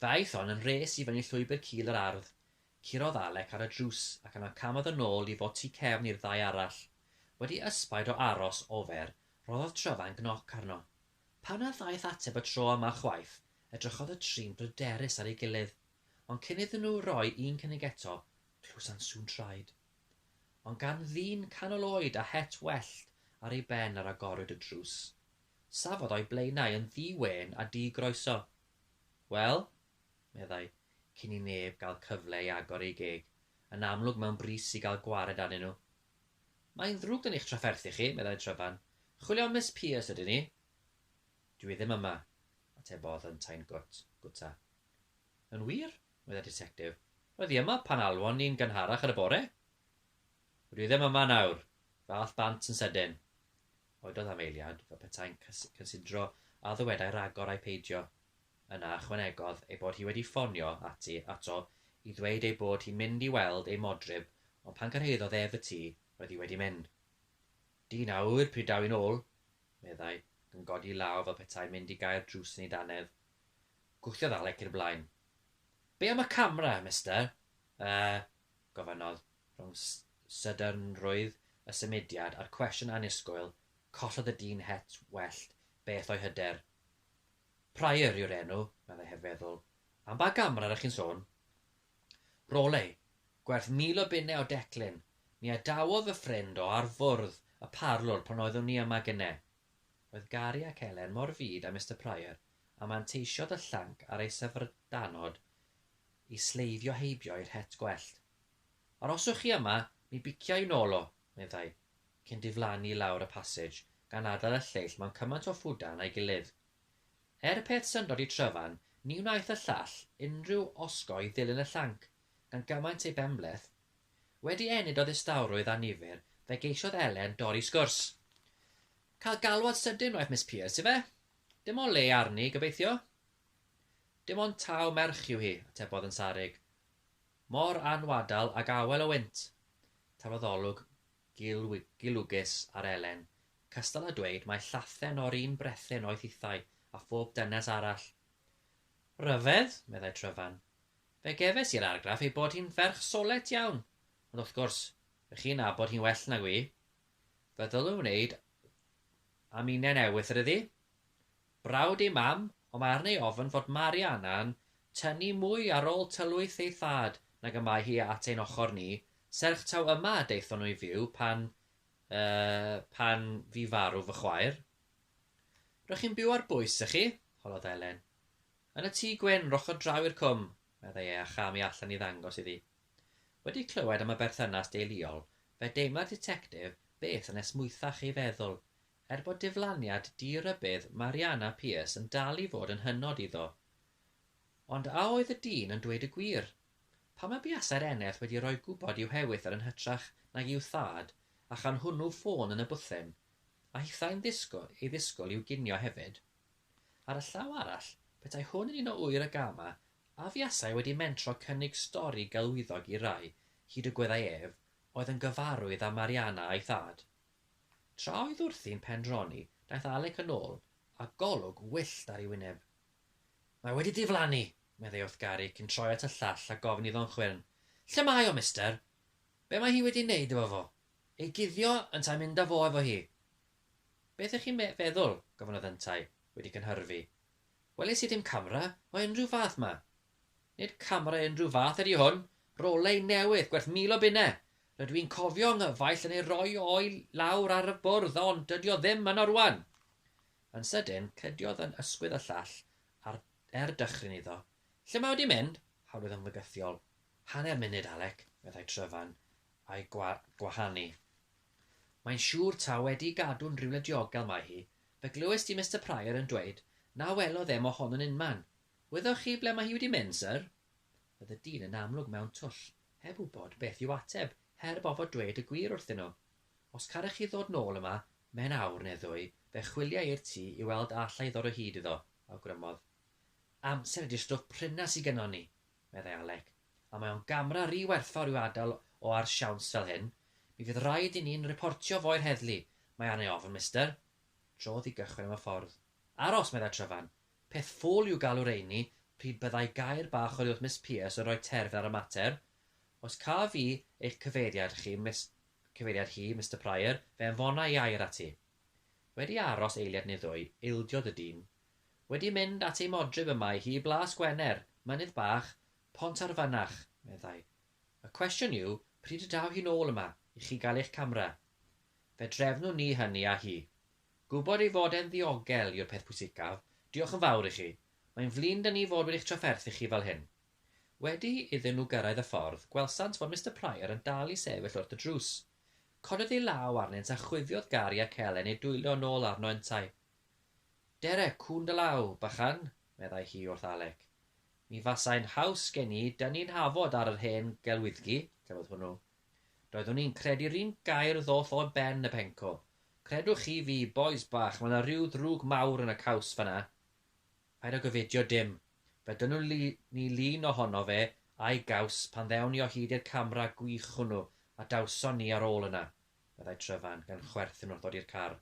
Ddaeth hon yn rhes i fyny llwybr cul yr ardd, curodd Alec ar y drws ac yna camodd yn ôl i fod tu cefn i'r ddau arall. Wedi ysbaid o aros ofer, rhoddodd Tryfan gnoc arno. Pan na ddaeth ateb y tro yma chwaith, edrychodd y tri'n bryderus ar ei gilydd. Ond cyn iddyn nhw roi un cynnig eto, clywsant sŵn traed. Ond gan ddyn canol oed a het wellt ar ei ben yr agorwyd y drws. Safodd o'i blaenau yn ddi-wên a di-groeso. Wel? meddai, cyn i neb gael cyfle i agor eu geg, yn amlwg mewn brys i gael gwared arnyn nhw. Mae'n ddrwg gen i'ch trafferthu chi, meddai Tryfan. Chwilio am Miss Pearce ydyn ni. Dwi ddim yma, atebodd yntau'n gwt, gwta. Yn wir? meddai'r Ditectif. Roedd hi yma pan alwon ni'n gynharach yn y bore. Rydw i ddim yma nawr, fath bant yn sydyn. Cododd Afeiliad fel petai'n cynsidro a ddywedai ragor ai peidio. Yna ychwanegodd ei bod hi wedi ffonio ati ato i ddweud ei bod hi'n mynd i weld ei modryb ond pan gyrhaeddodd ef y tŷ roedd hi wedi mynd. Dyn a ŵyr pryd daw i'n ôl! meddai, ac yn codi'i law fel petai'n mynd i gau'r drws yn ei dannedd. Gwthiodd Alec i'r blaen. Be am y camera, Mister? Yy? gofynnodd. Rhwng sydynrwydd y symudiad a'r cwestiwn annisgwyl, collodd y dyn het wellt beth o'i hyder. Prior yw'r enw, meddai heb feddwl. Am ba gamera r'ych chi'n sôn? Rolei, gwerth mil o bunne o declyn. Mi adawodd fy ffrind o ar fwrdd y parlwr pan oeddwn ni yma gynne. Roedd Gary ac Elen mor fud â Mister Prior, a manteisiodd y llanc ar ei syfrdanod i sleifio heibio i'r het gwellt. Aroswch chi yma, mi bicia i nôl o, meddai, cyn diflannu i lawr y passage gan adael y lleill mewn cymaint o ffwdan â'i gilydd. Er peth syndod i Tryfan, ni wnaeth y llall unrhyw osgoi ddilyn y llanc, gan gymaint ei benbleth. Wedi ennyd o ddistawrwydd annifyr, fe geisiodd Elen dorri sgwrs. Cael galwad sydyn wnaeth Miss Pierce, ife? Dim o le arni, gobeithio? Dim ond taw merch yw hi, atebodd yn sarug. Mor anwadal ag awel o wynt! Tafodolwg gilwgus ar Elen, cystal â dweud mai llathen o'r un brethyn oedd hithau a phob dynes arall. Rhyfedd, meddai Tryfan. Fe gefais i'r argraff ei bod hi'n ferch solet iawn, ond wrth gwrs, rych chi'n nabod hi'n well nag wy. Fe ddylwn wneud am inen ewythr iddi. Brawd ei mam, ond mae arni ei ofn fod Mariana'n tynnu mwy ar ôl tylwyth ei thad nag y mae hi at ein ochr ni, serch taw yma y daethon nhw i fyw pan, er, pan fu farw fy chwaer. R'ych chi'n byw ar bwys, 'ych chi? holodd Elen. Yn y tŷ gwyn, roched draw i'r cwm, meddai e a cham i allan i ddangos iddi. Wedi clywed am y berthynas deuluol, fe deimla'r ditectif beth yn esmwythach ei feddwl, Er bod diflaniad di-rybudd Mariana Pierce yn dal i fod yn hynod iddo. Ond a oedd y dyn yn dweud y gwir? Pam y buasai'r eneth wedi rhoi gwybod i'w hewythr yn hytrach nag i'w thad, a chan hwnnw ffôn yn y bwthyn? A hithau'n ddisgwyl ei ddisgwyl i'w ginio hefyd? Ar y llaw arall, petai hwn yn un o ŵyr y gama, a fuasai wedi mentro cynnig stori gelwyddog i rai, hyd y gweddai ef, oedd yn gyfarwydd â Mariana a'i thad? Tra oedd wrthi'n pendroni, daeth Alec yn ôl â golwg wyllt ar ei wyneb. Mae wedi diflannu! meddai wrth Gary cyn troi at y llall a gofyn iddo'n chwyrn, Lle mae o, Mister? Be' mae hi wedi 'neud efo fo? Ei guddio yntau mynd â fo efo hi? Beth ych chi'n me feddwl? gofynnodd yntau, wedi cynhyrfu. Welis i ddim camera o unrhyw fath 'ma, Nid camera unrhyw fath ydy hwn, roley newydd gwerth mil o bunne, rydw i'n cofio 'nghyfaill yn ei roi o'i lawr ar y bwrdd ond dydy o ddim yno rwan! Yn sydyn, cydiodd yn ysgwydd y llall ar er dychryn iddo. Lle mae o 'di mynd? Hawlydd ymddygythiol. Hanner munud, Alec, meddai Tryfan, a'i gwa gwahanu. Mae'n siŵr taw wedi'i gadw'n rywle diogel mae hi, fe glywes di Mister Prior yn dweud na welodd e mo hon yn unman, Wyddoch chi ble mae hi wedi mynd, syr? Roedd y dyn yn amlwg mewn twll, heb wybod beth i'w ateb, heb ofod dweud y gwir wrthyn nhw. Os carech chi ddod nôl yma mewn awr neu ddwy, fe chwilia i'r tŷ i weld a alla i ddod o hyd iddo, awgrymodd. Amser ydy'r stwff pryna sy gynnon ni, meddai Alec, a mae o'n gamera ry werthfawr i'w adael o ar siawns fel hyn. Mi fydd raid i ni'n riportio fo i'r heddlu, mae arna i ofn, mister. Trodd i gychwyn am y ffordd. Aros, meddai Tryfan, Peth ffwl yw galw rheini pryd byddai gair bach oddi wrth Miss Pierce yn rhoi terfyn ar y mater. Os caf i eich cyfeiriad chi, Miss, cyfeiriad hi, Mister Prior, fe anfona i air ati. Wedi aros eiliad neu ddwy, ildiodd y dyn. Wedi mynd at ei modryb y mae hi i Blas Gwener, mynydd bach, Pont ar Fynach, meddai. Y cwestiwn yw pryd y daw hi'n ôl yma i chi gael eich camera. Fe drefnwn ni hynny â hi. Gwybod ei fod e'n ddiogel yw'r peth pwysicaf. Diolch yn fawr i chi. Mae'n flin 'da ni fod wedi'ch trafferthu chi fel hyn. Wedi iddyn nhw gyrraedd y ffordd, gwelsant fod Mister Prior yn dal i sefyll wrth y drws. Cododd ei law arnynt a chwifiodd gar i ac elen ei dwyllo yn ôl arno yntau. Dere, cŵn dy law, bychan, meddai hi wrth Alec. Mi fasai'n haws gen i dynnu'n hafod ar yr hen gelwyddgi, cafodd hwnnw Doeddwn i'n credu'r un gair ddoth o ben y pencwl. Credwch chi fi, bois bach, mae 'na ryw ddrwg mawr yn y caws fan'na. Paid â gyfidio dim. Fe dynnwn ni lun ohono fe a'i gaws pan ddewn ni o hyd i'r camera gwych hwnnw a dawson ni ar ôl yna, meddai Tryfan, gan chwerthin wrth ddod i'r car.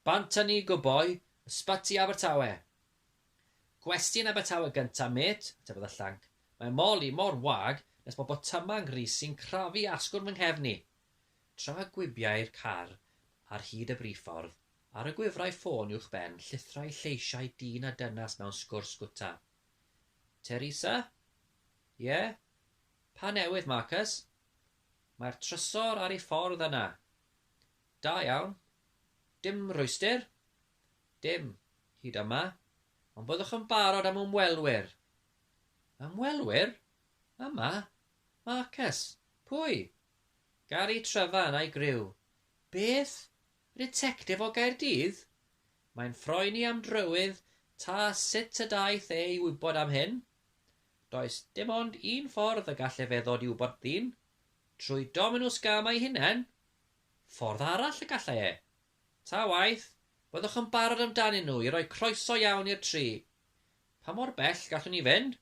Bant â ni, go boi! Ysbyty Abertawe! Gwesty yn Abertawe gynta mêt, atebodd y llanc. Mae Molly mor wag nes bod botyma' 'nghrys i'n crafu asgwrn fy nghefn i. Tra gwibiai'r car ar hyd y briffordd, ar y gwifrai ffôn uwchben llithrai lleisiau dyn a dynas mewn sgwrs gwta. Teresa? Ie? Pa newydd, Marcus? Mae'r trysor ar ei ffordd yna. Da iawn. Dim rhwystr? Dim, hyd yma, ond byddwch yn barod am ymwelwyr. Ymwelwyr? Yma? Marcus? Pwy? Gary Trevan a'i griw. Beth? Y ditectif o Gaerdydd? Mae'n phoeni am drywydd ta sut y daeth e i wybod am hyn. Does dim ond un ffordd y gall efe ddod i wybod ddyn. Trwy Dominws Gam ei hunain? Ffordd arall y gallai e? Ta waeth, byddwch yn barod amdanyn nhw i roi croeso iawn i'r tri. Pa mor bell gallwn ni fynd?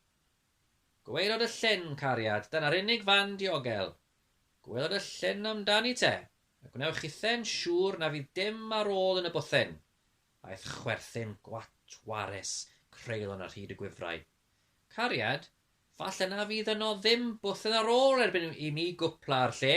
Gwaelod y llyn, cariad, dyna'r unig fan diogel. Gwaelod y llyn amdani te, a gwnewch chithau'n siŵr na fydd dim ar ôl yn y bwthyn. Aeth chwerthin gwatwarus creulon ar hyd y gwifrau. Cariad, falle na fydd yno ddim bwthyn ar ôl erbyn i mi gwpla'r lle!